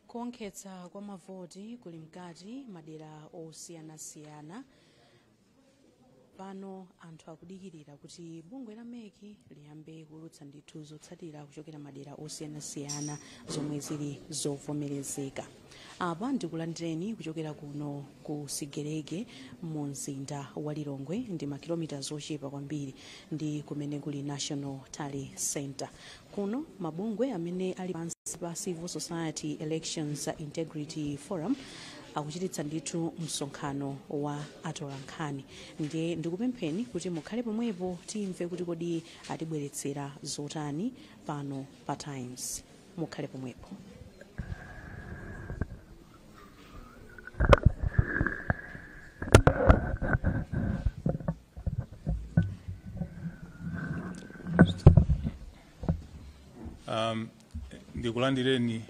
kuwonkhetsa kwa mavoti kuli mkati madera osiyanasiyana pano anthu akudikirira kuti bungwe la MEC liyambe kuulutsa ndithu zotsatira kuchokera madera osiyanasiyana zomwe zili zovomerezeka apa ndikulandireni kuchokera kuno ku sigerege mu mzinda wa lilongwe ndi makilomita zochepa kwambiri ndi kumene kuli national tally center kuno mabungwe amene ali pansi pa civil society elections integrity forum akuchititsa ndithu msonkhano wa atolankhani ndiye ndikupempheni kuti mukhale pomwepo timve kuti kodi atibweretsera zotani pano pa times mukhale pomwepo um, ndikulandireni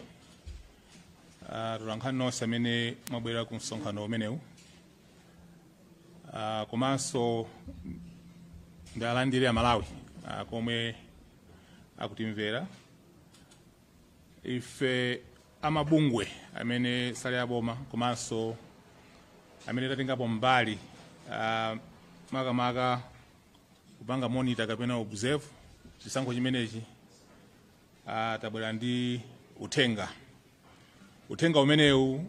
uh, atolankhani nonse amene mwabwera ku msonkhano umenewu uh, komanso ndiwalandire amalawi uh, komwe akutimvera ife amabungwe amene sali aboma komanso amene tatengapo mbali uh, makamaka kupanga monitor kapena observe chisankho chimenechi uh, tabwera ndi uthenga uthenga umenewu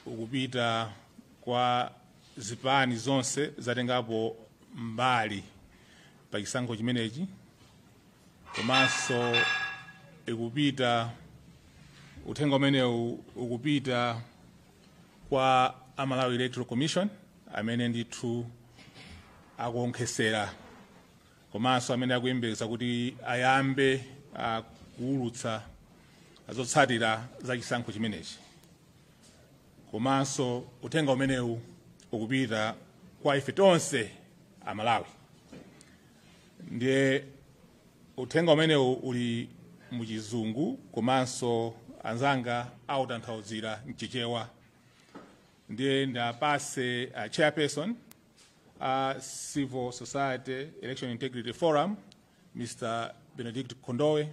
ukupita kwa zipani zonse zatengapo mbali pa chisankho chimenechi komanso ikupita uthenga umenewu ukupita kwa a malawi electoral commission amene ndithu akuonkhesera komanso amene akuyembekeza kuti ayambe ah, kuwulutsa zotsatira za chisankho chimenechi komanso uthenga umenewu ukupita kwa ife tonse amalawi ndiye uthenga umenewu uli muchizungu komanso anzanga awutanthauzira mchichewa ndiye ndiwapatse uh, chairperson a uh, civil society election integrity forum mr benedict kondowe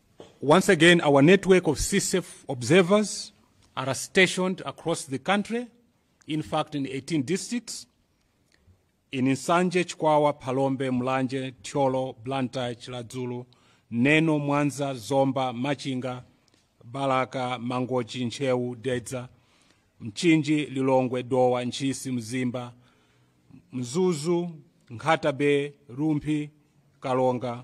Once again, our network of CSEF observers are stationed across the country, in fact, in 18 districts, in Nsanje, Chikwawa, Phalombe, Mulanje, Thyolo, Blantyre, Chiradzulu, Neno, Mwanza, Zomba, Machinga, Balaka, Mangochi, Ntcheu, Dedza, Mchinji, Lilongwe, Dowa, Ntchisi, Mzimba, Mzuzu, Nkhata Bay, Rumphi, Karonga,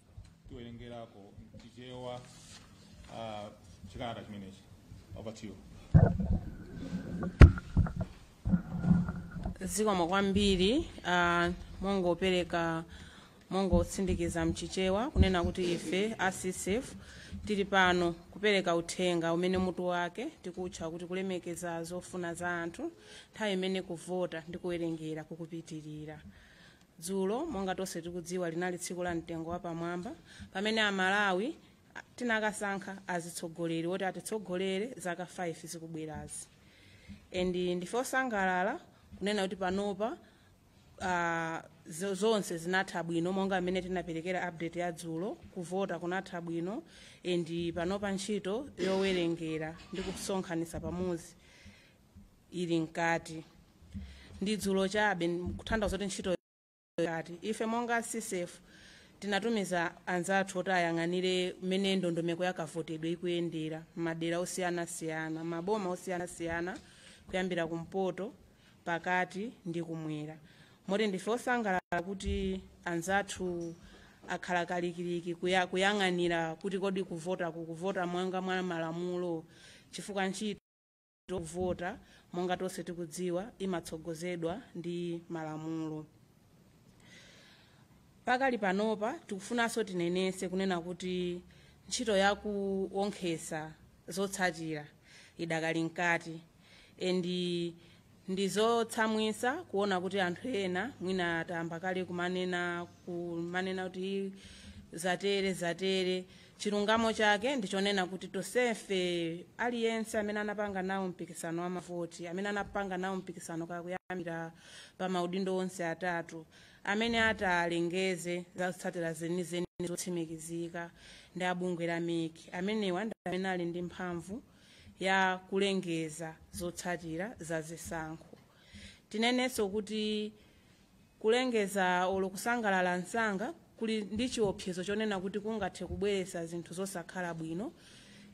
atiwerengereko mchichewa uh, chikalata chimenechi over to you zikomo kwambiri uh, mongopereka mongotsindikiza mchichewa kunena kuti ife a CSEF tili pano kupereka uthenga umene mutu wake tikutcha kuti kulemekeza zofuna za anthu nthawi imene kuvota ndi kuwerengera kukupitirira dzulo monga tonse tikudziwa linali tsiku la mtengo wapamwamba pamene amalawi a- tinakasankha azitsogoleri woti atitsogolere zaka 5 zikubwerazi and ndife osangalala kunena kuti panopa ah, zo- zonse zinatha bwino monga mmene tinaperekera update ya dzulo kuvota kunatha bwino and panopa ntchito yowerengera ndi kusonkhanitsa pamodzi ili mkati ndi dzulo chabe kutanthauza kuti ntchito ikadali ife monga CSEF tinatumiza anzathu oti ayang'anire mmene ndondomeko ya kavotedwe ikuyendera m'madera osiyanasiyana m'maboma osiyanasiyana kuyambira kumpoto pakati ndi kumwera moti ndife osangalala kuti anzathu akhala kalikiliki kuya- kuyang'anira kuti kodi kuvota kukuvota mwanga mwa malamulo chifukwa ntchito yovota monga tonse tikudziwa imatsogozedwa ndi malamulo pakali panopa tikufunanso tinenese kunena kuti ntchito yakuonkhesa zotsatira idakali mkati endi ndi zotsamwisa kuona kuti anthu ena mwina ayamba kale kumanena kumanena kuti zatere zatere chilungamo chake ndichonena kuti tonsefe aliyense amene anapanga nawo mpikisano wa mavoti amene anapanga nawo mpikisano kakuyambira pa maudindo onse atatu amene atalengeze za zotsatira zenizeni zotsimikizika ndi abungwe la mec amenewa ndi amene ali ndi mphamvu ya kulengeza zotsatira za zisankho tinenenso kuti Kulengeza olo kusangalala msanga kuli ndi chiopsezo chonena kuti kungathe kubweretsa zinthu zosakhala bwino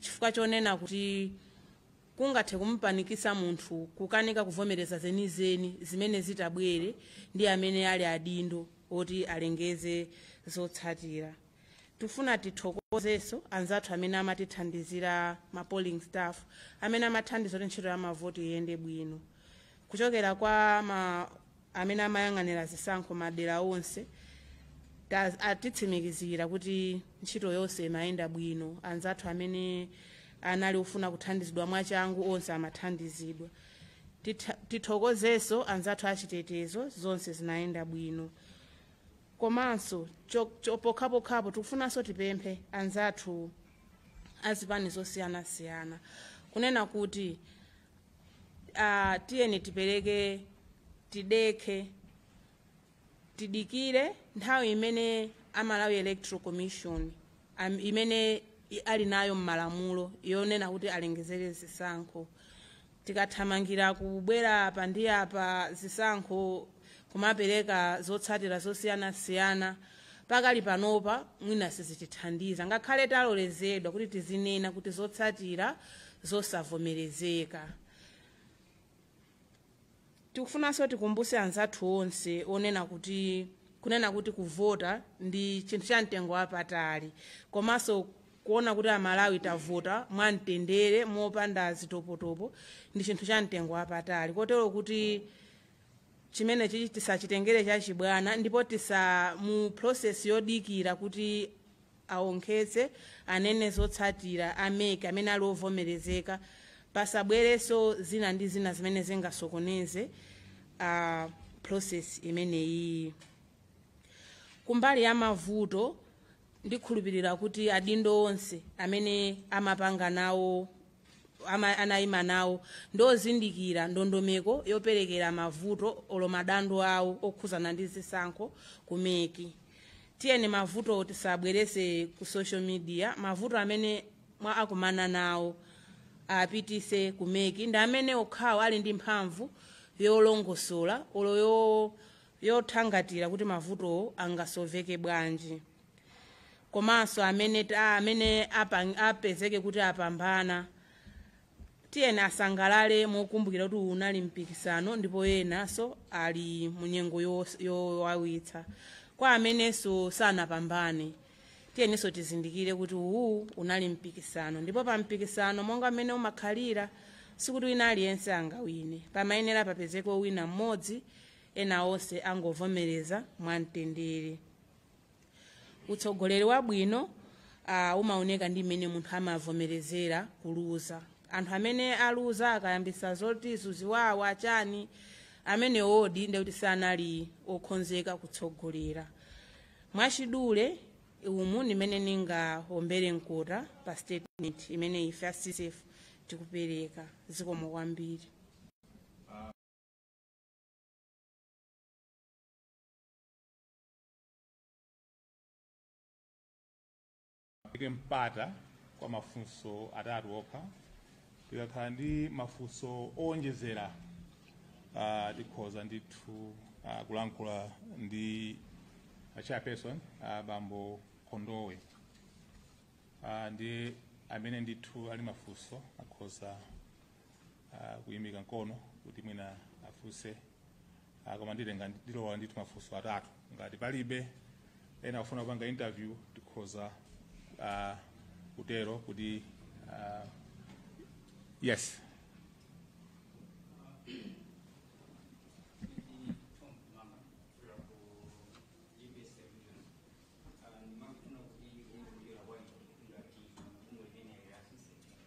chifukwa chonena kuti kungathe kumupanikitsa munthu kukanika kuvomereza zenizeni zimene zitabwere ndi amene ali adindo oti alengeze zotsatira. Tifuna tithokozenso anzathu amene amatithandizira ma polling staff amene amathandiza kuti ntchito ya mavoti iyende bwino kuchokera kwa amene amayang'anira zisankho madera onse ta- atitsimikizira kuti ntchito yonse imayenda bwino anzathu amene anali ofuna kuthandizidwa mwachangu onse amathandizidwa Titha- tithokozenso anzathu achitetezo zonse zinayenda bwino komanso cho- cho- pokhapokhapo tikufunanso tipemphe anzathu azipani zosiyanasiyana kunena kuti uh, tiyeni tipereke tidekhe tidikire nthawi imene a Malawi Electoral Commission am, imene i- ali nayo mmalamulo yonena kuti alengezere zisankho tikathamangira kubwera apa ndi apa zisankho kumapereka zotsatira zosiyanasiyana pakali panopa mwina sizitithandiza ngakhale talolezedwa kuti tizinena kuti zotsatira zosavomerezeka tikufunanso tikumbuse anzathu onse onena kuti kunena kuti kuvota ndi chinthu cha mtengo wapatali komanso kuona kuti amalawi tavota mwamtendere mopanda zitopotopo ndi chinthu cha mtengo wapatali kotero kuti chimenechichi tisachitengere chachibwana ndipo tisa mu process yodikira kuti awonkhetse anene zotsatira a MEC amene ali ovomerezeka pasabwereso zina ndi zina zimene zingasokoneze uh, process imeneyiyi kumbali ya mavuto ndikhulupirira kuti adindo onse amene amapanga nawo ama- anayima nawo ndi ozindikira ndondomeko yoperekera mavuto olo madando awo okhuzana ndi zisankho ku MEC tiyeni mavuto tisabwerese ku social media mavuto amene mwa akumana nawo apitise ku MEC ndi amene okhawo ali ndi mphamvu yolongosola olo yo- yothangatira kuti mavutowo angasoveke bwanji komanso amene ta- amene apang- apezeke kuti apambana tiyeni asangalale mokumbukira kuti uwu unali mpikisano ndipo enanso ali mu nyengo yos- yowawitsa kwa amenenso sanapambane tiyeninso tizindikire kuti uwu unali mpikisano ndipo pa mpikisano monga mmene umakhalira sikuti wina aliyense angawine pamayenera papezeke wina mmodzi ena onse angovomereza mwamtendere utsogoleri wabwino uh, umaoneka ndi mmene munthu amavomerezera kuluza anthu amene aluza akayambisa zoti zaziwawa chani amene odi ndekuti sanali okhonzeka kutsogolera mwachidule umu ndi mmene ningaombere mkota pa statement imene ife asisef tikupereka zikomo kwambiri eke mpata kwa mafunso atatu okha tikakhala ndi mafunso owonjezera uh, tikhoza ndithu uh, kulankhula ndi a chairperson uh, bambo kondowe uh, ndi amene ndithu ali mafunso akhoza uh, kuyimika mkono kuti mwina afunse uh, koma nditenga ndilola ndithu mafunso atatu ngati palibe ena akufuna kupanga interview tikhoza uh, kutero kuti uh, yes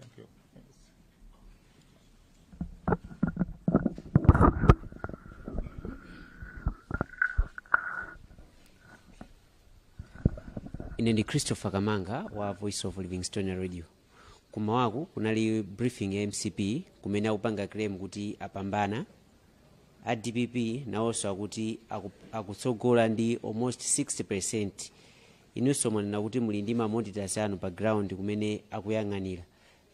Thank you. ine ndi christopher kamanga wa voice of livingstonia radio kummawaku kunali briefing ya mcp kumene akupanga claim kuti apambana a dpp nawonso akuti aku- akutsogola ndi almost 60 percent Inunso mwanena kuti muli ndi ma monitors anu pa ground kumene akuyang'anira.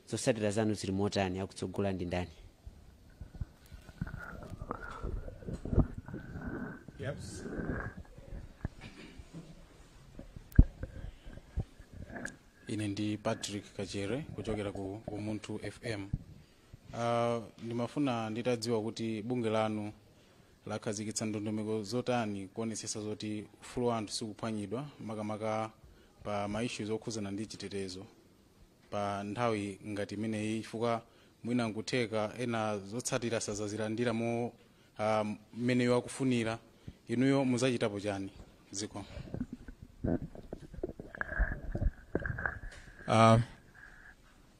Zotsatira zanu zili motani? Akutsogola ndi ndani? Yes. ine ndi patrick kachere kuchokera ku umunthu fm uh, ndimafuna nditadziwa kuti bungwe lanu lakhazikitsa ndondomeko zotani kuonetsetsa zoti ufulu wa anthu sikuphwanyidwa makamaka pa ma issues okhuzana ndi chitetezo pa nthawi ngati imeneyi chifukwa mwina nkutheka ena zotsatira sazazilandira mo ah, mmene iwo akufunira inuyo muzachitapo chani Zikomo. Uh,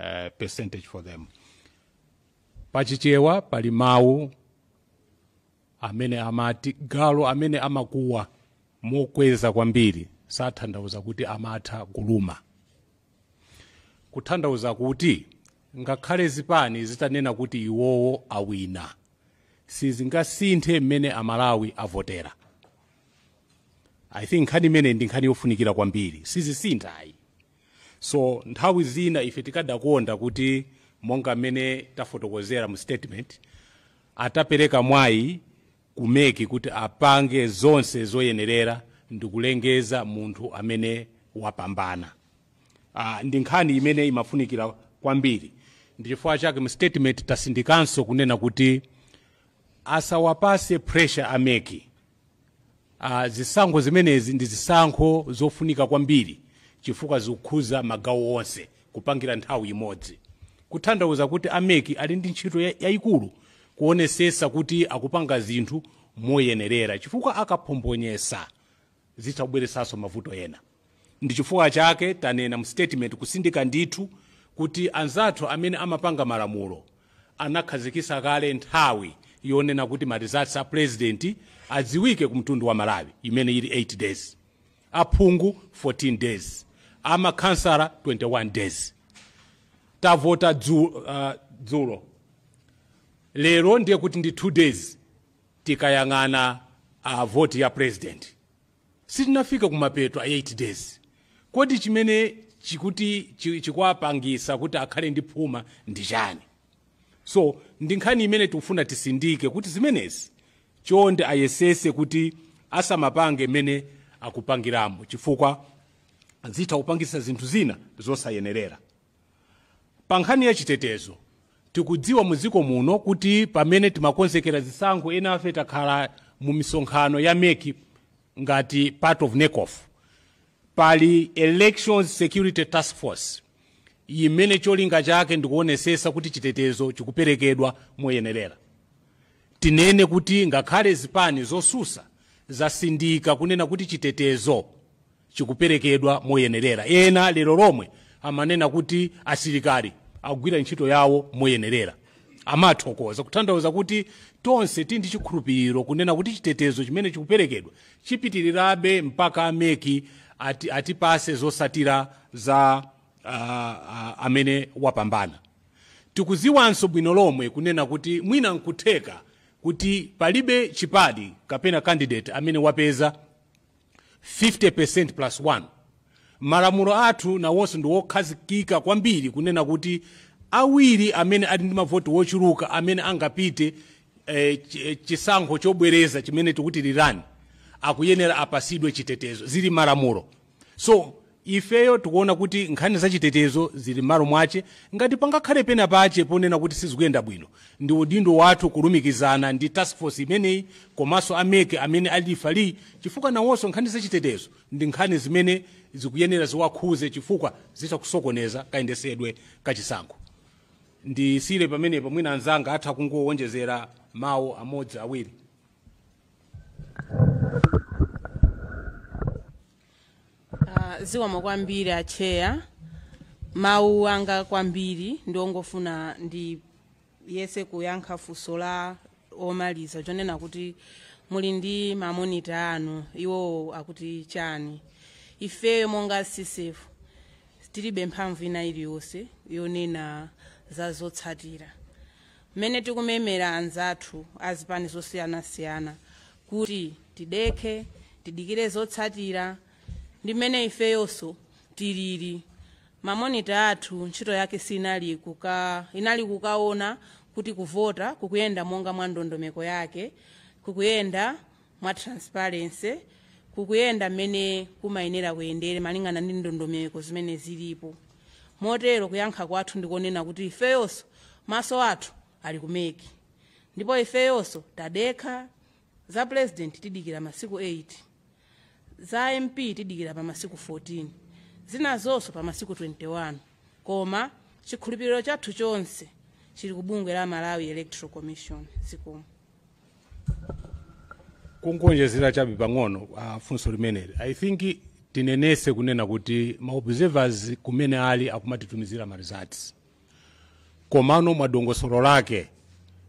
uh, percentage for them pachichewa pali mawu amene amati galu amene amakuwa mokweza kwambiri sathandauza kuti amatha kuluma kuthandauza kuti ngakhale zipani zitanena kuti iwowo awina sizingasinthe mmene amalawi avotera i think nkhani imeneyi ndi nkhani yofunikira kwambiri sizisintha ayi so nthawi zina ife tikadakonda kuti monga mmene tafotokozera mu statement atapereka mwayi ku MEC kuti apange zonse zoyenerera ndikulengeza munthu amene wapambana uh, ndi nkhani imene imafunikira kwambiri ndi chifukwa chake mu statement tasindikanso kunena kuti asawapase pressure a MEC Uh, zisankho zimenezi ndi zisankho zofunika kwambiri chifukwa zikukhuza magawo onse kupangira nthawi imodzi kuthandauza kuti a MEC ali ndi ntchito ya- yayikulu kuonesesa kuti akupanga zinthu moyenerera chifukwa akaphombonyesa zitha kubweresanso mavuto ena ndi chifukwa chake tanena mu statement kusindika ndithu kuti anzathu amene amapanga malamulo anakhazikisa kale nthawi yonena kuti ma results a president adziwike ku mtundu wa malawi imene ili 8 days aphungu 14 days amakhansala 21 days tavota dzu- uh, dzulo lero ndiye kuti ndi 2 days tikayang'ana uh, voti ya president sitinafike kumapeto a 8 days kodi chimene chikuti chi- chikuwapangisa kuti akhale ndi phuma ndi chani so ndi nkhani imene tikufuna tisindike kuti zimenezi chonde ayesese kuti asamapange mmene akupangiramo chifukwa zitha kupangisa zinthu zina zosayenerera Pa nkhani ya chitetezo, tikudziwa mu dziko muno kuti pamene timakonzekera zisankho enafe takhala mu misonkhano ya mec ngati part of NECOF. Pali Elections Security Task Force imene cholinga chake ndikuonesesa kuti chitetezo chikuperekedwa moyenerera. Tinene kuti ngakhale zipani zosusa zasindika kunena kuti chitetezo chikuperekedwa moyenerera ena lero lomwe amanena kuti asilikali akugwira ntchito yawo moyenerera amathokoza kutanthauza kuti tonse tili ndi chikhulupiriro kunena kuti chitetezo chimene chikuperekedwa chipitirirabe mpaka a MEC ati, atipase zosatira za uh, uh, amene wapambana tikuziwanso bwino lomwe kunena kuti mwina nkutheka kuti palibe chipani kapena candidate amene wapeza 50% plus 1 malamulo athu nawonso ndi wokhazikika kwambiri kunena kuti awiri amene ali ndi mavoti wochuluka amene angapite eh, ch- eh, chisankho chobwereza chimene tikuti rerun akuyenera apasidwe chitetezo zili m'malamulo so Ifeyo tikuona kuti nkhani za chitetezo zili m'malo mwache, ngati pangakhale pena pache ponena kuti sizikuyenda bwino, ndi udindo wathu kulumikizana ndi task force imeneyi komaso a mec amene ali referee chifukwa nawoso nkhani za chitetezo ndi nkhani zimene zikuyenera ziwakhuze chifukwa zitha kusokoneza kayendesedwe ka chisankho. Ndisiyire pamenepo mwina anzanga atha kungowonjezera mau amodzi awiri. Ah, zikomo kwambiri acheya mawu anga kwambiri ndi ongofuna ndiyese kuyankha funso la womaliza chonena kuti muli ndi mamonita anu iwowo akuti chani ifeyo monga ccf tilibe mphamvu ina iliyonse yonena za zotsatira mmene tikumemera anzathu a zipani zosiyanasiyana kuti tidekhe tidikire zotsatira ndi mmene ifeyonso tilili mamonita athu ntchito yake inali kuka inali kukaona kuti kuvota kukuyenda monga mwa ndondomeko yake kukuyenda mwa transparency kukuyenda mmene kumayenera kuyendere malingana ndi ndondomeko zimene zilipo motero kuyankha kwathu ndikonena kuti ifeyonso maso athu ali ku MEC ndipo ifeyonso tadekha za president tidikira pa masiku 8 za mp tidikira pa masiku 14 zinazo pa masiku 21 koma chikhulupiriro chathu chonse chili ku bungwe la malawi electoral commission zikomo kungoonjezera chabe pang'ono uh, funso limeneli i think tinenese kunena kuti ma observers kumene ali akumatitumizira ma results komano mwa dongosolo lake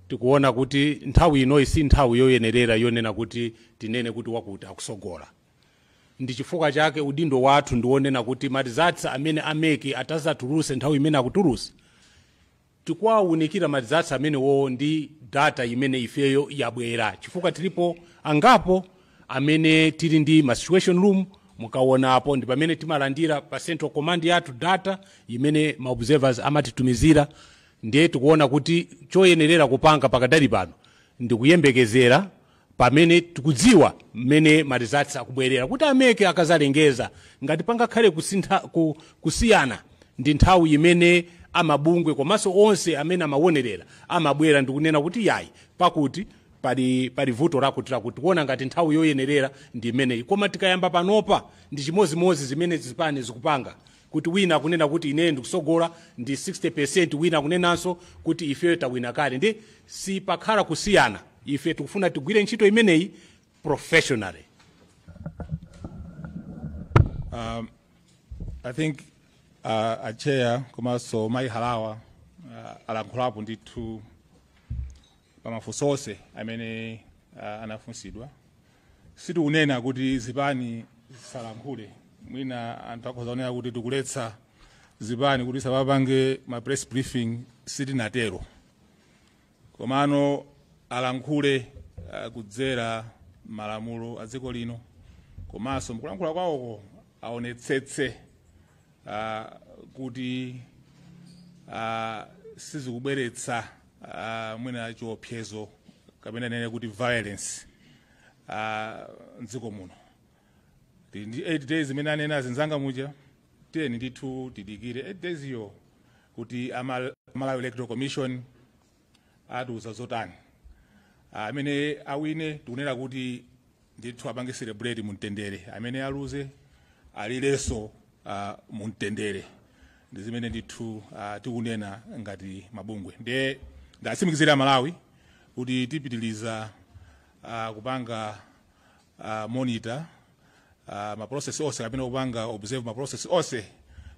tikuona kuti nthawi inoyi si nthawi yoyenerera yonena kuti tinene kuti wakuti akusogola ndi chifukwa chake udindo wathu ndiwonena kuti ma results amene a MEC atazatuluse nthawi imene akutulusa tikuwaunikira ma results amenewowo ndi data imene ifeyo yabwera chifukwa tilipo angapo amene tili ndi ma situation room mukaonapo ndi pamene timalandira pa central command yathu data imene ma observers amatitumizira ndiye tikuona kuti choyenerera kupanga pakadali pano ndikuyembekezera pamene tikudziwa mmene ma results akubwerera kuti a MEC akazalengeza ngati pangakhale kusiyana ndi nthawi imene amabungwe komanso onse amene amawonerera amabwera ndikunena kuti yayi pakuti pali pali vuto lakuti lakuti tikuona ngati nthawi yoyenerera ndi imeneyi koma tikayamba panopa ndi chimodzimodzi zimene zipani zikupanga kuti wina akunena kuti ineyo ndikutsogola ndi 60% wina akunenanso kuti ifeyo tawina kale ndiye sipakhala kusiyana ife tikufuna tigwire ntchito imeneyi professionally Um, I think uh, a chair komanso mayi halawa uh, alankhulapo ndithu pamafunso onse amene uh, anafunsidwa sitikunena kuti zipani zisalankhule mwina anthu akhoza kunena kuti tikuletsa zipani kuti zisapange ma press briefing sitinatero komano alankhule uh, kudzera malamulo a dziko lino komanso mkulankhula kwawoko aonetsetse uh, kuti uh, sizikubweretsa uh, mwina chiopsezo kapena ndinene kuti violence uh, mdziko muno Ti- ndi 8 days imene anena anzanga muja tiyeni ndithu tidikire 8 days yo kuti ama- malawi electoral commission atiuza zotani amene awine tikunena kuti ndithu apange celebrate mumtendere amene aluze alirenso uh, mumtendere ndi zimene ndithu uh, tikunena ngati mabungwe ndiye ndiwatsimikizire amalawi kuti tipitiliza uh, kupanga uh, monitor uh, maprocess onse kapena kupanga observe maprocess onse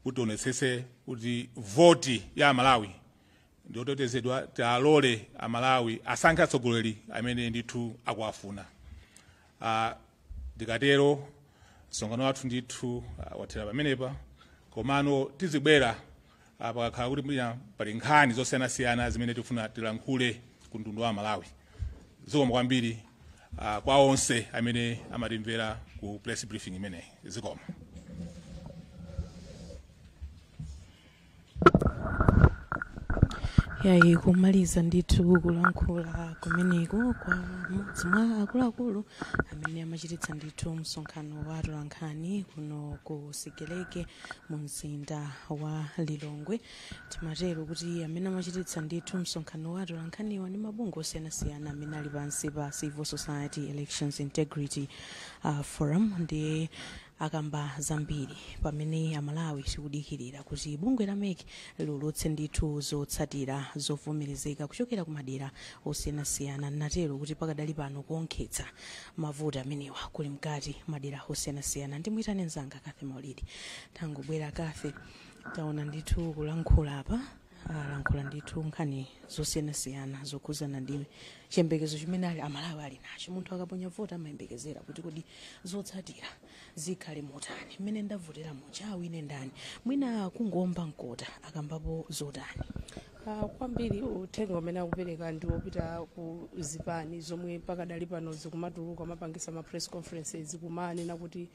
kuti tionetsetse kuti voti ya amalawi ndi otetezedwa tialole amalawi asankhe atsogoleri amene ndithu akuwafuna Ah, ndikatero msonkhano wathu ndithu ah, wathera pamenepa komano tizibwera ah, pakakhala kuti mwina pali nkhani zosiyanasiyana zimene tifuna tilankhule ku mtundu wa amalawi zikomo kwambiri ah, kwa onse amene amatimvera ku press briefing imeneyi zikomo yayi kumaliza ndithu kulankhula kumeneko kwa mmodzi mwa akuluakulu amene amachititsa ndithu msonkhano wa atolankhani kuno ku sigelege mu mzinda wa lilongwe timatero kuti amene amachititsa ndithu msonkhano wa atolankhaniwa ndi mabungwe osiyanasiyana amene ali pansi pa civil society elections integrity uh, forum ndiye akamba zambiri pamene amalawi tikudikirira kuti bungwe la mec liulutse ndithu zotsatira zovomerezeka kuchokera ku madera osiyanasiyana ndatero kuti pakadali pano kuonkhetsa mavoti amenewa kuli mkati madera osiyanasiyana ndimuyitane mzanga cathy maulidi tangobwera cathy taona ndithu kulankhula apa alankhula ndithu nkhani zosiyanasiyana zokhudzana ndi chiyembekezo chimene a amalawi ali nacho munthu akaponya voti amayembekezera kuti kodi zotsatira zikhale motani mmene ndavotera muja awine ndani mwina kungoomba mkota akambapo zotani Ah, kwambiri uthenga umene akupereka ndi wopita ku zipani zomwe pakadali pano zikumatuluka amapangisa ma press conferences kumanena kuti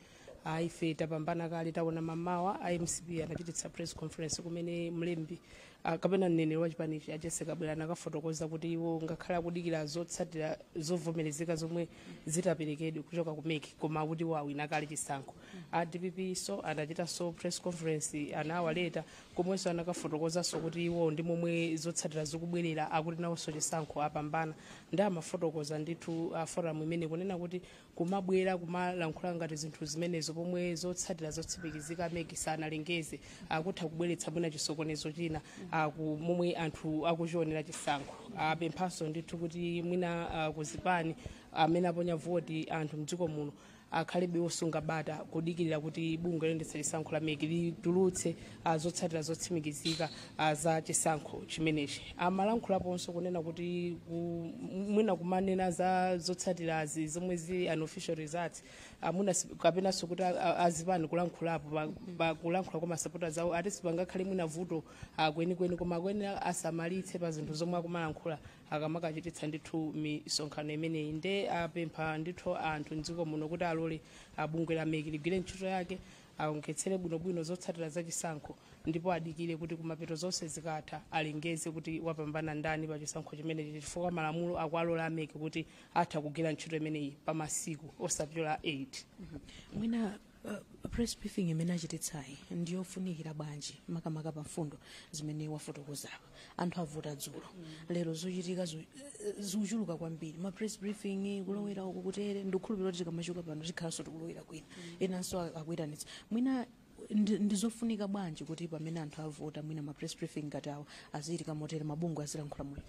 ayi ife tapambana kale taona mamawa a mcp anachititsa press conference kumene mlembi ah, kapena mneneri wa chipanichi a jessie kabwila anakafotokoza kuti iwo ngakhale akudikira zotsatira zovomerezeka zomwe zidzaperekedwe kuchoka ku mec koma akuti iwo awina kale chisankho a dppnso anachitanso press conference anawaleta komwenso anakafotokozanso kuti iwo ndi momwe zotsatira zikubwerera akuti nawonso chisankho apambana nde amafotokoza ndithu a forum imeneyi kunena kuti kumabwera kumalankhula ngati zinthu zimenezo pomwe zotsatira zotsimikizika mec sanalengeze akutha kubweretsa mwina chisokonezo china ku momwe anthu akuchionera chisankho apemphanso ndithu kuti mwina ah, kuzipani amene aponya voti anthu mdziko muno akhalebe osunga bata kudikirira kuti bungwe loyendetsa chisankho la mec litulutse a zotsatira zotsimikizika a za chisankho chimenechi amalankhulaponso kunena kuti ku- m- mwina kumanena za zotsatirazi zomwe zili unofficial results amuna si- kapenanso kuti a- a- azipani kulankhulapo pa- pa kulankhula kwa masapota zawo ati sipangakhale mwina vuto ah, kwenikweni koma akuyenera asamalitse pa zinthu zomwe akumalankhula akamakachititsa ndithu misonkhano imeneyi nde apempha ndithu anthu mdziko muno kuti alole ah, bungwe la mec ligwire ntchito yake aonkhetsere bwinobwino zotsatira za chisankho ndipo adikire kuti kumapeto zonse zikatha alengeze kuti wapambana ndani pa chisankho chimenechi chifukwa malamulo akualola a mec kuti atha kugwira ntchito imeneyi pa masiku osapyola 8 mwina uh, press briefing imene achititsayi ndiyofunikira bwanji makamaka pa mfundo zimene wafotokozapo anthu avota dzulo lero zochitika zu- zikuchuluka kwambiri ma press briefing kulowera uku kutere ndikukhulupirira kuti tikamachoka pano tikhalanso tikulowera kwina enanso a- akuyitanitsa mwina ndi- ndizofunika bwanji kuti pamene anthu avota mwina ma press briefing ngati awo azichitika motere mabungwe azilankhula moyo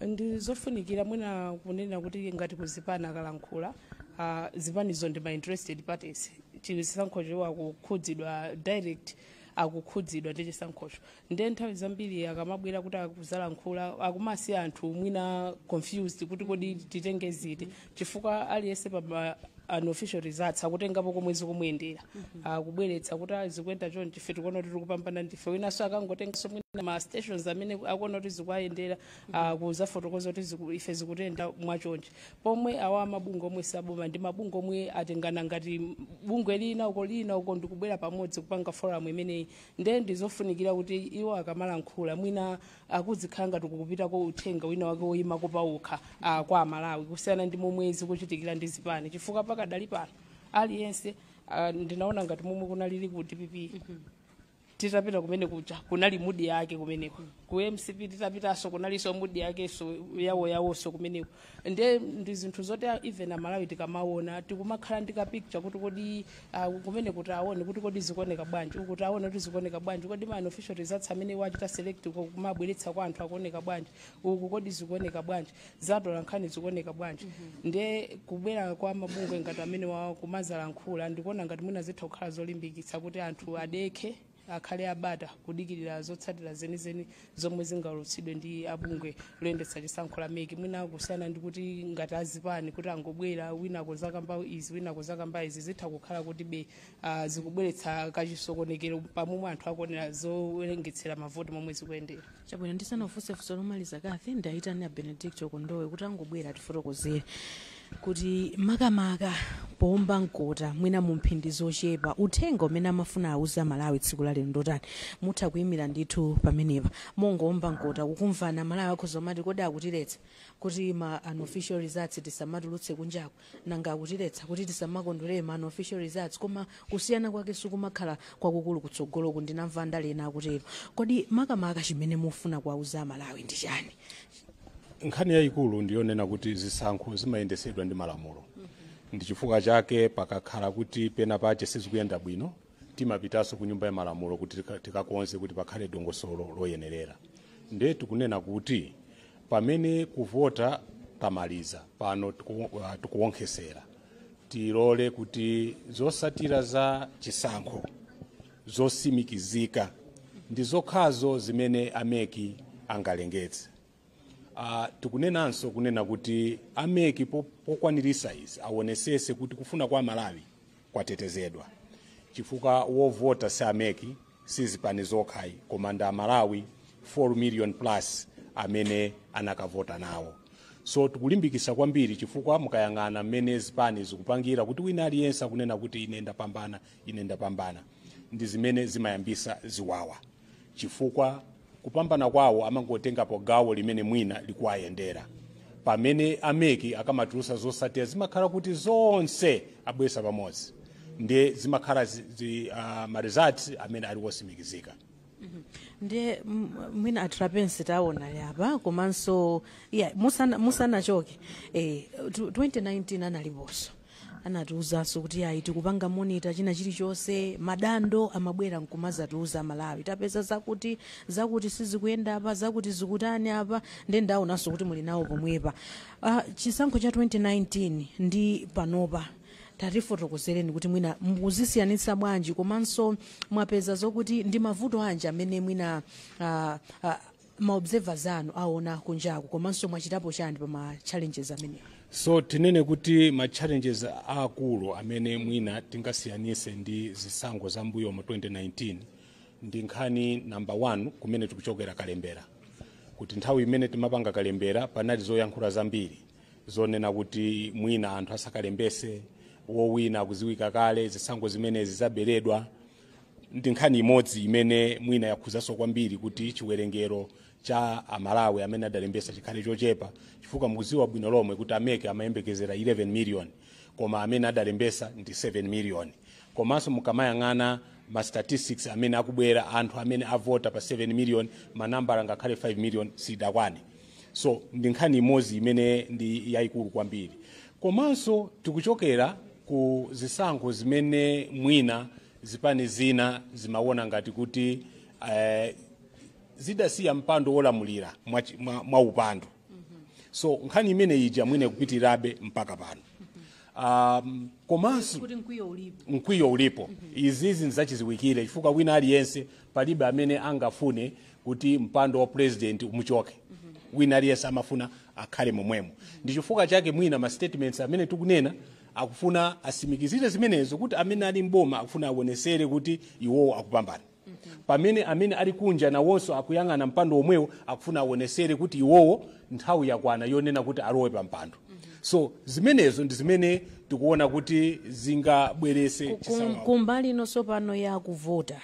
ndi zofunikira mwina kunena kuti ngati kuzipani akalankhula ah, zipanizo ndi ma interested parties chisankhocho akukhudzidwa direct akukhudzidwa ndi chisankhocho nde nthawi zambiri akamabwera kuti akuzalankhula akumasiya anthu mwina confused kuti kodi titenge ziti chifukwa aliyense pa unofficial results akutengapo komwe zikumuyendera kubweretsa kuti "Ah, zikuyenda chonchi ife tikuona kuti tikupambana ndife winanso akangotenganso mwina ma stations amene akuona kuti zikuwayendera akuzafotokoza kuti ziku- ife zikutiyendera mwachonchi pomwe awa mabungwe omwe si aboma ndi mabungwe omwe atengana ngati bungwe lina uko lina uko ndikubwera pamodzi kupanga forum imeneyi nde ndizofunikira kuti iwo akamalankhula mwina akuzikhala ngati kukupitako uthenga wina wake woyimako pawokha ah, kwa amalawi kusiyana ndi momwe zikuchitikira ndi zipani chifukwa pakadali pano aliyense ah, ndinaona ngati momwe kunalili ku dpp titapita kumene kuja kunali mudi yake kumeneko ku mcp titapitaso kunaliso mudi yakeso yawo yawoso kumeneko nde ndi zinthu zoti a- even amalawi tikamaona tikumakhala ndi kapicture kuti kodi ah, kumene kuti aone kuti kodi zikuoneka bwanji uku kuti aone kuti zikuoneka bwanji kodi ma unofficial results amene wachita select uko kumabweretsa kwa anthu akuoneka bwanji uku kodi zikuoneka bwanji zatola nkhani zikuoneka bwanji nde kubwera kwa mabungwe ngati amenewa kumazalankhula ndikuona ngati mwina zitha kukhala zolimbikitsa kuti anthu adekhe akhale abata kudikirira zotsatira zenizeni zomwe zingaulutsidwe ndi abungwe loyendetsa chisankho la mec mwina kusiyana ndi kuti ngati azipani kuti angobwera wina kuzakamba izi wina kuzakamba izi zitha kukhala kuti be uh, zikubweretsa kachisokonekero pamomwe anthu akuonera zowerengetsera mavoti momwe zikuyendera chabwino ndisanafunse funso lomaliza kathy ndayitana a benedicto kondowe kuti angobwera atifotokozere kuti makamaka poomba mkota mwina mu mphindi zochepa uthenga umene amafuna awuza amalawi tsiku la lero ndotani mutha kuyimira ndithu pamenepa mongoomba mkota kukumvana malawi akhoza kumati kodi akutiletsa kuti ma unofficial results tisamatulutse kunjaku nanga akutiletsa kuti tisamakondwerere ma unofficial results koma kusiyana kwake sikumakhala kwakukulu kutsogoloku ndinamva andale ena akutero kodi makamaka chimene mufuna kuwauza amalawi ndi chani nkhani yayikulu ndiyonena kuti zisankho zimayendesedwa ndi malamulo ndi chifukwa chake pakakhala kuti pena pache sizikuyenda bwino timapitanso ku nyumba ya malamulo kuti tika- tikakonze kuti pakhale dongosolo loyenerera nde tikunena kuti pamene kuvota tamaliza pano tiku- ah, tikuwonkhesera tilole kuti zosatira za chisankho zosimikizika ndi zokhazo zimene ameki angalengetse Uh, tikunenanso kunena kuti ameki po- pokwanirisa izi awonesese kuti kufuna kwa amalawi kwatetezedwa chifukwa wovota si ameki si zipani zokhayi koma ndi amalawi 4 million plus amene anakavota nawo so tikulimbikisa kwambiri chifukwa mukayang'ana mmene zipani zikupangira kuti wina aliyense akunena kuti ine ndapambana ine ndapambana ndi zimene zimayambisa ziwawa chifukwa kupambana kwawo amangotengapo gawo limene mwina likuwayendera pamene ameki akamatulusa zosatira zimakhala kuti zonse abwesa pamodzi ndiye zimakhala zi, zi, uh, ma results amene ali wosimikizika ndiye m- mwina a Trapence taonani apa komanso yeah, musana- musanachoke eh, tu- 2019 analiponso anatiuzanso kuti ayi tikupanga monita china chilichonse madando amabwera nkumazatiuza amalawi tapeza zakuti zakuti sizikuyenda apa zakuti zikutani apa nde ndaonanso kuti muli nawo pomwepa uh, chisankho cha 2019 ndi panopa tatifotokozereni kuti mwina mukuzisiyanitsa bwanji komanso mwapeza zokuti ndi mavuto anji amene mwina ah, ah, maobservers anu aona kunjaku komanso mwachitapo chani pa ma challenges amenewa so tinene kuti ma challenges aakulu amene mwina tingasiyanise ndi zisankho za mbuyomu 2019 ndi nkhani number 1 kumene tikuchokera kalembera kuti nthawi imene timapanga kalembera panali zoyankhula zambiri zonena kuti mwina anthu asakalembese wowina akuziwika kale zisankho zimenezi zaberedwa ndi nkhani imodzi imene mwina yakhuzanso kwambiri kuti chiwerengero cha amalawi amene adalembesa chikhale chochepa chifukwa mukuziwa bwino lomwe kuti ameki amayembekezera 11 million koma amene adalembesa ndi 7 million komanso mukamayang'ana ma statistics amene akubwera anthu amene avota pa 7 million manambala ngakhale 5 million sidakwane so ndi nkhani imodzi imene ndi yayikulu kwambiri komanso tikuchokera ku zisankho zimene mwina zipani zina zimawona ngati kuti eh, zidasiya mpando wolamulira mwa, chi- mwa, mwa upandu so nkhani imene ija mwina ikupitirabe mpaka pano um, komanso kuti mkwiyo ulipo mkwiyo ulipo izizi nzachiziwikire chifukwa wina aliyense palibe amene angafune kuti mpando wa president umuchoke wina aliyense amafuna akhale momwemo ndi chifukwa chake mwina ma statements amene tikunena akufuna asimikizire zimenezo kuti amene ali mboma akufuna awonesere kuti iwowo akupambana pamene amene ali kunja nawonso akuyang'ana mpando womwewo akufuna awonesere kuti iwowo nthawi yakwana yonena kuti alowe pa mpando so zimenezo ndi zimene tikuona kuti zingabwerese chisawawa kumbali ino tsopano ya kuvota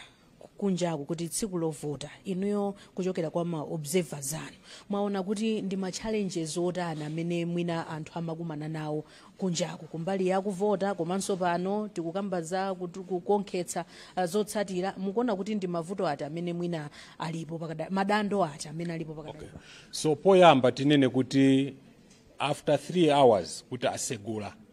kunjaku kuti tsiku lovota inuyo kuchokera kwa ma observers anu mwaona kuti ndi ma challenges otani amene mwina anthu amakumana nawo kunjaku kumbali ya kuvota komanso pano tikukamba za kutu- kukonkhetsa ah, zotsatira mukuona kuti ndi mavuto ati amene mwina alipo pakada madando ati amene alipo pakadali pano? so poyamba tinene kuti after 3 hours kuti asegula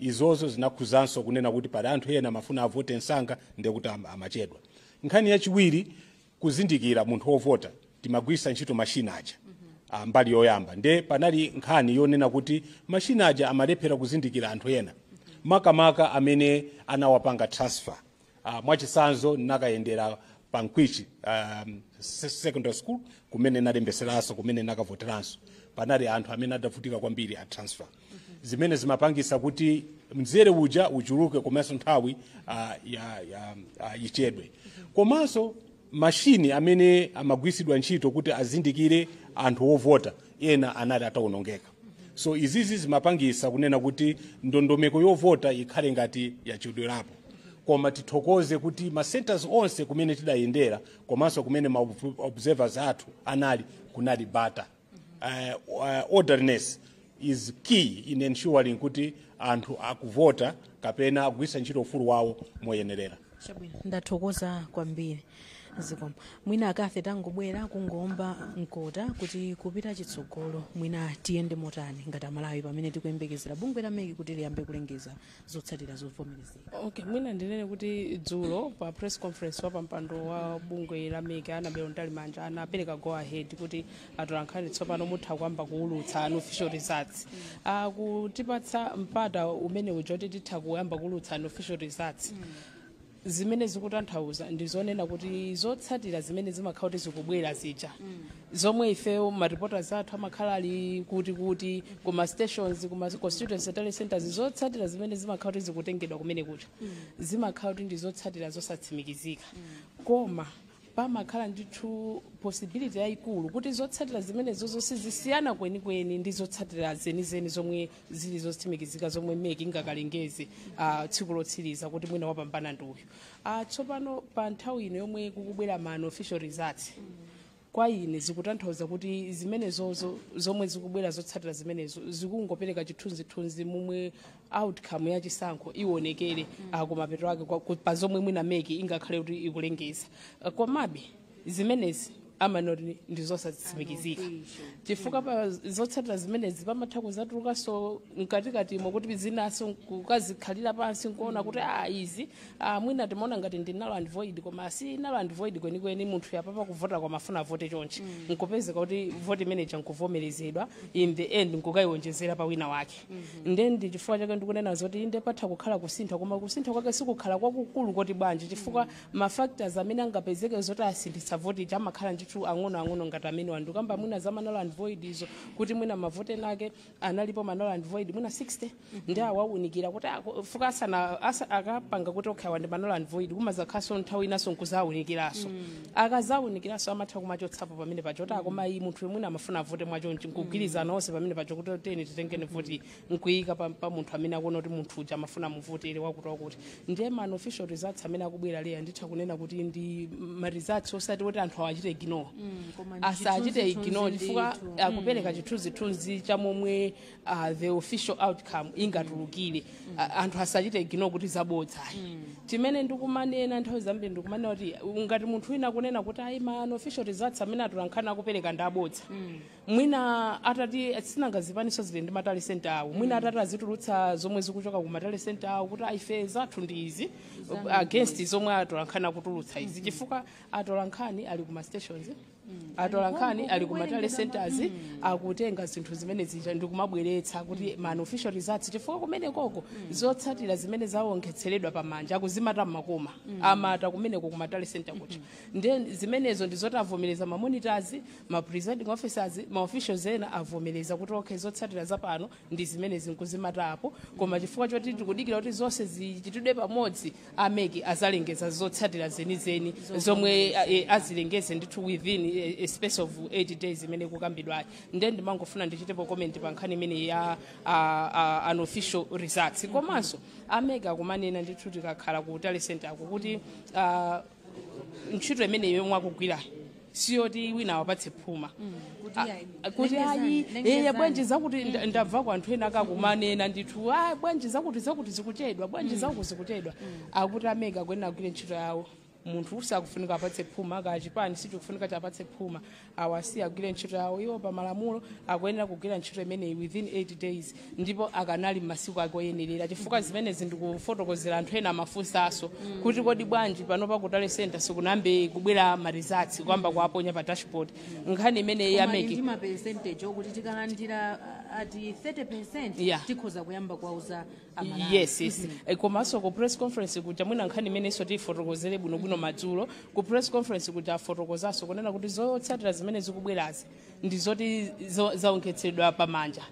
izozo zinakhuzanso kunena kuti pali anthu ena amafuna avote msanga ndekuti am- amachedwa nkhani yachiwiri kuzindikira munthu wovota timagwiritsa ntchito mashina aja ah, mbali yoyamba nde panali nkhani yonena kuti mashina aja amalephera kuzindikira anthu ena makamaka amene anawapanga transfer Uh, mwachisanzo nakayendera pa mkwichi um, se- secondary school kumene nalembeseranso kumene nakavoteranso panali anthu amene adavutika kwambiri a transfer zimene zimapangisa kuti mzere uja uchuluke komanso nthawi uh, ya, ya, uh, ichedwe komanso mashini amene amagwiritsidwa ntchito kuti azindikire anthu ovota ena anali atawonongeka so izizi zimapangisa kunena kuti ndondomeko yovota ikhale ngati yachedwerapo koma tithokoze kuti ma centers onse kumene tidayendera komanso kumene ma ob- observers athu anali kunali bata eh, wa- orderliness is key in ensuring kuti anthu akuvota kapena akugwiritsa ntchito ufulu wawo moyenerera chabwino ndathokoza kwambiri zikomo mwina a Kafe tangobwerani kungoomba mkota kuti kupita chitsogolo mwina tiyende motani ngati amalawi pamene tikuyembekezera bungwe la MEC kuti liyambe kulengeza zotsatira zovomerezeka okay mwina ndinene kuti dzulo pa press conference wa pampando wa bungwe la MEC Annabel Mtalimanja anapereka go ahead kuti atolankhani tsopano mutha kuyamba kuulutsa unofficial results akutipatsa mpata umene uja kuti titha kuyamba kuulutsa unofficial results zimene zikutanthauza ndi zonena kuti zotsatira zimene zimakhala kuti zikubwera zija zomwe ifeyo mareporters athu amakhala ali kuti kuti kuma stations kuma constituency tally centers zotsatira zimene zimakhala kuti zikutengedwa kumene kuja zimakhala kuti ndi zotsatira zosatsimikizika koma pamakhala ndithu possibility yayikulu kuti zotsatira zimenezozo sizisiyana kwenikweni ndi zotsatira zenizeni zomwe zili zotsimikizika zomwe mec ingakalengeze uh, tsiku lotsiriza kuti mwina wapambana ndi uyu uh, tsopano pa nthawi ino yomwe kukubwera ma unofficial results kwa ine zikutanthauza kuti zimenezozo zomwe zikubwera zotsatira zimenezo zikungopereka chithunzithunzi momwe outcome ya chisankho iwonekere kumapeto ake kwa- ku- pa zomwe mwina mec ingakhale kuti ikulengeza Eh, komabe zimenezi timangoti ndi zosatsimikizika chifukwa pa zotsatira zimenezi pamatha kuzatulukanso mkatikatimo kuti zinaso kukazikhalira pansi nkuona kuti a izi ah, mwina timaona ngati ndi null and void koma si null and void kwenikweni munthu uja pa kuvota kwake amafuna avote chonchi nkupezeka kuti voti imeneja nkuvomerezedwa in the end nkukayiwonjezera pa wina wake nde ndi chifukwa chake ndikunena zoti inde patha kukhala kusintha koma kusintha kwake sikukhala kwakukulu koti bwanji chifukwa ma factors amene angapezeke zoti asinthitse voti ija amakhala ndithu ang'onoang'ono ngati amene ndakamba mwina za ma null and void izo kuti mwina mavote ake analipo ma null and void mwina 60 nde awaunikira kuti ako- fuka asana asa- akapanga kuti okhawa ndi ma null and void kumazakhalaso nthawi inaso nkuzawunikiranso akazawunikiranso amatha kumachotsapo pamene paja kuti a koma iyi munthuyu mwina amafuna avote mwachonchi nkugwirizana onse pamene paja kuti tiyeni titenge voti nkuyika pa, pa munthu amene akuona kuti munthu uja amafuna amuvotere wakuti wakuti ndiye ma unofficial results amene akubwerawa eya nditha kunena kuti ndi ma results osati kuti anthu awachite ignore asachite ignore chifukwa akupereka chithunzithunzi cha momwe uh, the official outcome ingatulukire uh, anthu asachite ignore kuti zabodza ayi chimene ndikumanena nthawi zambiri ndikumanena kuti ngati munthu wina akunena kuti ayi ma unofficial results amene atolankhani akupereka ndi abodza mwina atati sinanga zipaniso zili ndi ma tally center awo mwina atati azitulutsa zomwe zikuchoka ku ma tally center awo kuti ayi ife zathu ndi izi against zomwe atolankhani akutulutsa izi chifukwa atolankhani ali ku ma stations atolankhani ali ku ma tally centers akutenga zinthu zimene zija ndikumabweretsa kuti ma unofficial results chifukwa kumenekoko zotsatira zimene zawonkhetseredwa pamanja akuzimata mmakoma amata kumeneko ku ma tally center kuja nde zimenezo ndizoti avomereza ma monitors ma presiding officers ma officials ena avomereza kuti okay zotsatira zapano ndi zimenezi nkuzimata apo koma chifukwa choti tikudikira kuti zonse zichitidwe pamodzi a mec azalengeza zotsatira zenizeni zomwe eh, azilengeze ndithu within eh, a space of 8 days imene ikukambidwayo nde ndimangofuna ndichitepo comment pa nkhani imene ya ah, ah, unofficial results komanso a mec akumanena ndithu tikakhala ku tally center ko kuti ah, ntchito imeneyo yomwe akugwirayo siyoti wina awapatse phuma kuti a- ayi. a- kuti lengezani, ayi lengezani. eya bwanji zakuti nda- ndamva kwa anthu ena akakumanena ndithu bwanji zakuti zakuti zikuchedwa bwanji zakuti zikuchedwa akuti a MEC akuyenera kugwira ntchito yawo munthu usakufunika awapatse phuma kaya chipani sichikufunika chiwapatse phuma awasiye agwire ntchito yawo iwo pa malamulo akuyenera kugwira ntchito imeneyi within 8 days ndipo akanali m'masiku ake oyenerera chifukwa zimene ndikufotokozera anthu ena amafunsanso kuti kodi bwanji panopa ku tally center sikunayambe kubwera ma results kuyamba kuwaponya pa dashboard nkhani imene ya MEC ndi ma percentage okuti tikalandira uh, ati 30% Yeah. tikhoza kuyamba kuwauza aMalawi yes yes Eh, komanso ku press conference kuja mwina nkhani imenenso tiyifotokozere bwinobwino madzulo ku press conference kuja afotokozanso kunena kuti zotsatira zimene zikubwerazi ndi zoti zo- zaonkhetsedwa pamanja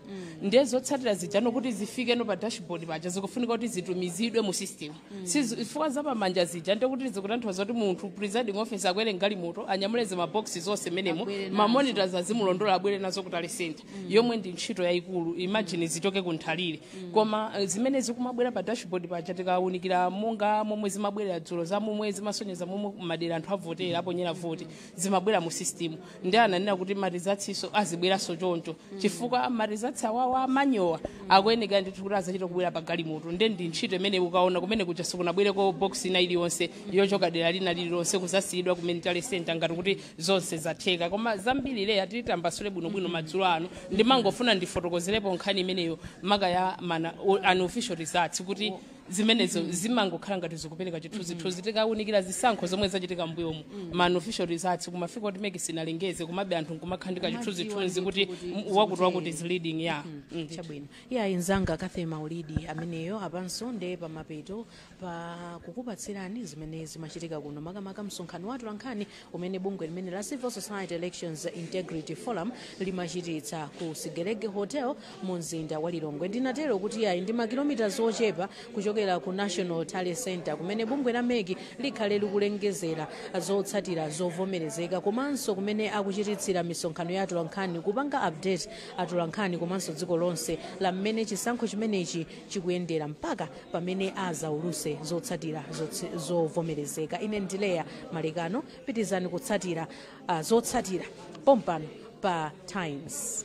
ndiye zotsatira zija kuti zifikeno pa dashboard paja zikufunika kuti zitumizidwe mu system chifukwa za pamanja zija ndiye kuti zikutanthauza kuti munthu presiding officer akwere m'galimoto anyamule zimaboksi zonse m'menemo abwere nazo. mamonitors azimulondola abwere nazo ku tally center yomwe ndi ntchito yayikulu imagine zichoke ku Nthalire koma eh, zimene zikumabwera pa dashboard paja tikawunikira monga momwe zimabwerera dzulo za momwe zimasonyeza momwe madera anthu avotera aponyera voti zimabwera mu system ndi ananena kuti ma results-nso azibweranso choncho chifukwa ma results awawa a manual akuyeneka ndithu kuti azachite kubwera pa galimoto nde ndi ntchito imene ukaona kumene kuja sikunabwereko box ina iliyonse yochoka dera lina lililonse kuzasiyidwa kumene ku tally center ngati kuti zonse zatheka koma zambiri Leah titambasule bwinobwino madzulo ano ndimangofuna ndifotokozerepo nkhani imeneyo maka ya ma- a- unofficial results kuti zimenezo zimangokhala ngati zikupereka chithunzithunzi tikaunikira zisankho zomwe zachitika mbuyomu ma unofficial results kumafika kuti MEC isanalengeze komabe anthu nkumakhala ndi ka chithunzithunzi kuti m- wakuti wakuti is leading ya Mm. chabwino eya mnzanga Cathy Maulidi ameneyo apanso nde pamapeto pa kukupatsirani zimene zimachitika kuno makamaka msonkhano wa atolankhani umene bungwe limene la Civil Society Elections Integrity Forum limachititsa ku Sigelege Hotel mu mzinda wa Lilongwe ndinatero kuti ayi ndi makilomita ochepa kuchokera ku national tally center kumene bungwe la MEC likhale likulengezera zotsatira zovomerezeka komanso kumene akuchititsira misonkhano ya atolankhani kupanga update atolankhani komanso dziko lonse la mmene chisankho chimenechi chikuyendera mpaka pamene azauluse zotsatira zotsi- zovomerezeka ine ndi Leah Malekano pitirizani kutsatira ah, zotsatira pompano pa Times